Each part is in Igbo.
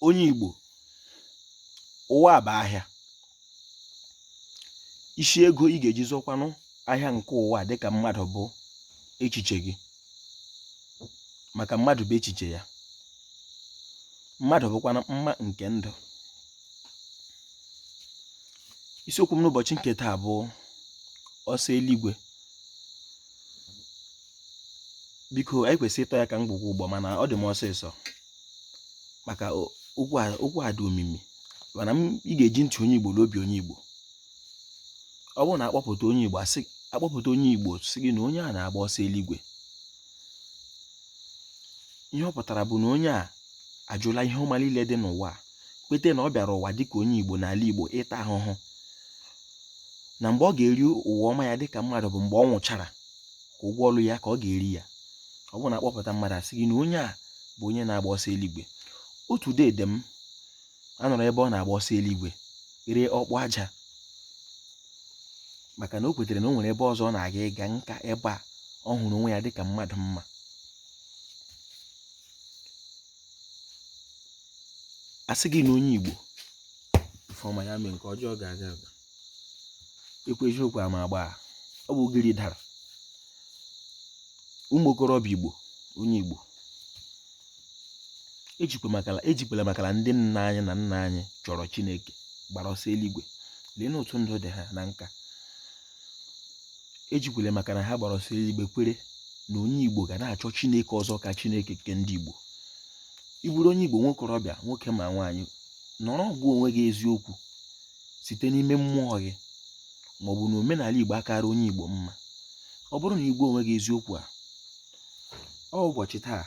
onye Igbo ụwa bụ ahịa isi ego ị ga-eji zụkwanụ ahịa nke ụwa dịka mmadụ bụ echiche gị maka mmadụ bụ echiche ya mmadụ bụkwanụ mma nke ndụ isiokwu m n'ụbọchị nke taa bụ ọsọ eluigwe biko anyị kwesịrị ịtọ ya ka ngwugwu ụgbọ mana ọ dị m ọsịsọ maka okwu a dị omimi mana ị ga-eji ntị onye igbo na obi onye igbo ọ bụrụ na akpọpụta onye igbo asị akpọpụta onye igbo sị gị na onye a na-agba ọsọ eluigwe ihe ọ pụtara bụ na onye a ajụla ihe ọma niile dị n'ụwa kwete na ọ bịara ụwa dịka onye igbo n'ala igbo ịta ahụhụ na mgbe ọ ga-eri ụwa ọma ya dịka mmadụ bụ mgbe ọ nwụchara ka ụgwọ ọlụ ya ka ọ ga-eri ya ọ bụrụ na akpọpụta mmadụ asị gị na onye a bụ onye na-agba ọsọ eluigwe otu dede m anọrọ ebe ọ na-agba ọsọ eluigwe ree ọkpụ aja maka na o kwetere na o nwere ebe ọzọ ọ na-aga ga-aka ebe a ọ hụrụ onwe ya dịka mmadụ mma asị gị na onye Igbo ife ọma ya mee nke ọjọọ ga-aga aga ekwu eziokwu ama agba ọ bụ ugiri dara ụmụ okorobịa igbo onye igbo ejikwala makala ndị nna anyị na nna anyị chọrọ chineke gbara ọsọ eluigwe lee n'otu ndụ dị ha na nka ejikwala maka na ha gbara ọsọ eluigwe kwere na onye igbo ga na-achọ chineke ọzọ ka chineke nke ndị igbo ị bụrụ onye igbo nwokorobịa nwoke ma nwaanyị nọrọ gwa onwe gị eziokwu site n'ime mmụọ gị ma ọ bụ na omenala Igbo akara onye Igbo mma ọ bụrụ na ị gwa onwe gị eziokwu a ọ ụbọchị taa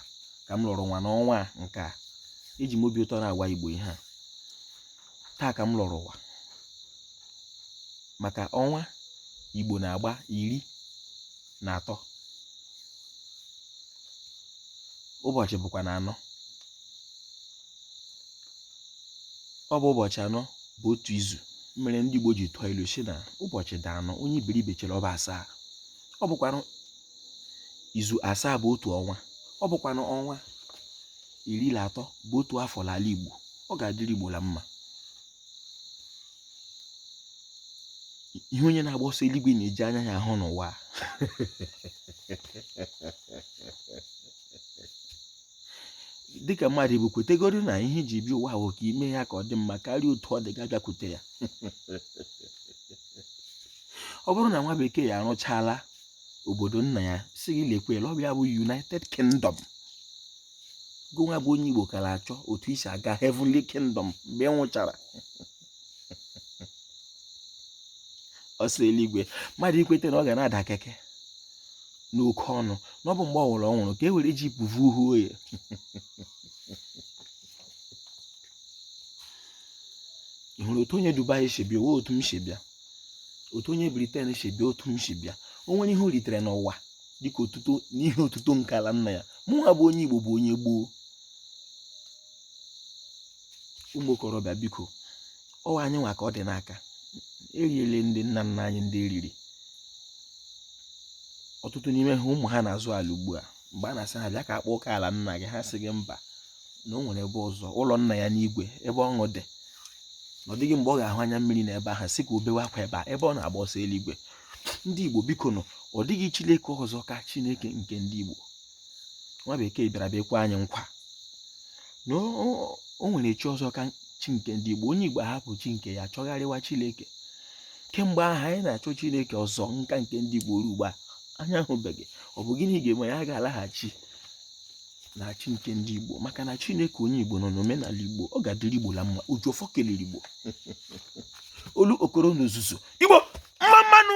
ka m lọrọ ụwa n'ọnwa nke a eji m obi ụtọ na-agwa Igbo ihe a taa ka m lọrọ ụwa maka ọnwa Igbo na-agba iri na atọ ụbọchị bụkwanụ anọ ọ bụ ụbọchị anọ bụ otu izu mere ndị Igbo ji tụọ ilu sị na ụbọchị dị anọ onye iberibe chere ọ bụ asaa ọ bụkwanụ izu asaa bụ otu ọnwa ọ bụkwanụ ọnwa iri na atọ bụ otu afọ n'ala Igbo ọ ga-adịrị Igbo la mma ihe onye na-agba ọsọ eluigwe na-eji anya ya ahụ n'ụwa dịka mmadụ bụ kwetegoro na ihe i ji bịa ụwa bụ ka i mee ya ka ọ dị mma karịa otu ọ dị ga abịakwute ya ọ bụrụ na nwa bekee ya arụchaala obodo nna ya sị gị lekwala obi ya bụ united kingdom gụnwa bụ onye igbo ka na-achọ otu i si aga heavenly kingdom mgbe ị nwụchara ọsọ eluigwe mmadụ ikweta na ọ ga na-ada keke n'oke ọnụ na ọ bụ mgbe ọ nwụrụ ọnwụrụ ka e were ji pụvu uhu oye ị hụrụ otu onye Dubai si bịa ọ wụ otu m si bịa otu onye Britain si bịa otu m si bịa o nwere ihe o ritere n'ụwa dịka otuto n'ihe otuto nke ala nna ya mụnwa bụ onye Igbo bụ onye gboo ụmụ okorobịa biko ọ wụ anyị nwa ka ọ dị n'aka e riele ndị nna nna anyị ndị e riri ọtụtụ n'ime ha ụmụ ha na-azụ ala ugbu a mgbe a na-asị ha bịa ka a kpaa oke ala nna gị ha sị gị mba na o nwere ebe ọzọ ụlọ nna ya n'igwe ebe ọṅụ dị na ọ dịghị mgbe ọ ga-ahụ anya mmiri n'ebe ahụ sị ka o bewe akwa ebe a ebe ọ na-agba ọsọ eluigwe ndị igbo bikonụ ọ dịghị chineke ọzọ ka chineke nke ndị igbo nwa bekee bịara bịa kwe anyị nkwa na o nwere chi ọzọ ka chi nke ndị Igbo onye Igbo ahapụ chi nke ya chọgharịwa Chineke kemgbe ahụ anyị na-achọ Chineke ọzọ nka nke ndị Igbo ruo ugbu a anyị ahụbeghị ọ bụ gịnị ga-eme ya ga-alaghachi na chi nke ndị Igbo maka na Chineke onye Igbo nọ n'omenala Igbo ọ ga-adịrị Igbo la mma oji ọfọ kelere Igbo olu okoro n'ozuzu Igbo mma mma nụ